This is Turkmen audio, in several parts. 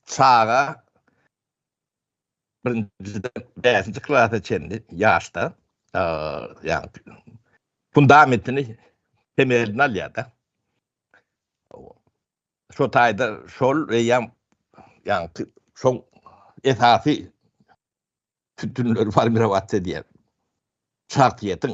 çaga birinjiden bäşinji klasa çenli ýaşda ýagny fundamentini temelini alýar-da. Şo taýda şol eýýäm ýagny şoň esasy sütünleri formirować edýär. Şahsyýetiň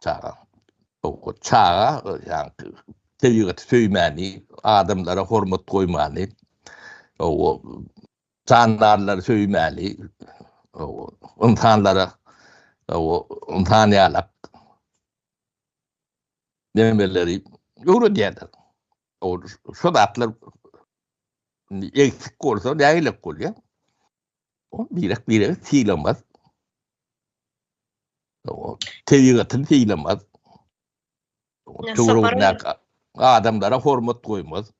Çaga. Owkat çaga ýaňky tebigaty söýmäni, adamlara hormat goýmany, o jandarlary söýmäni, o ynsanlara o ynsan ýalak nemeleri öwredýärler. O şu zatlar eksik bolsa nägilek bolýar. O birek birek sylamaz. tebigatyny sylamaz. Adamlara hormat goýmaz.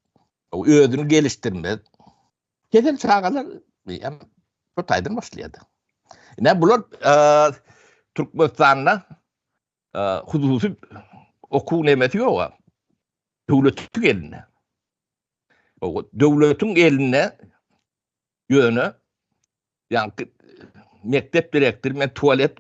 Özüni gelişdirmez. Kesel çagalar hem bu taýdan başlaýar. Ne bular Türkmenistanda hususy okuw nemesi ýok-a. Döwletiň elinde. Döwletiň elinde ýöne ýa-da mekdep direktory men tualet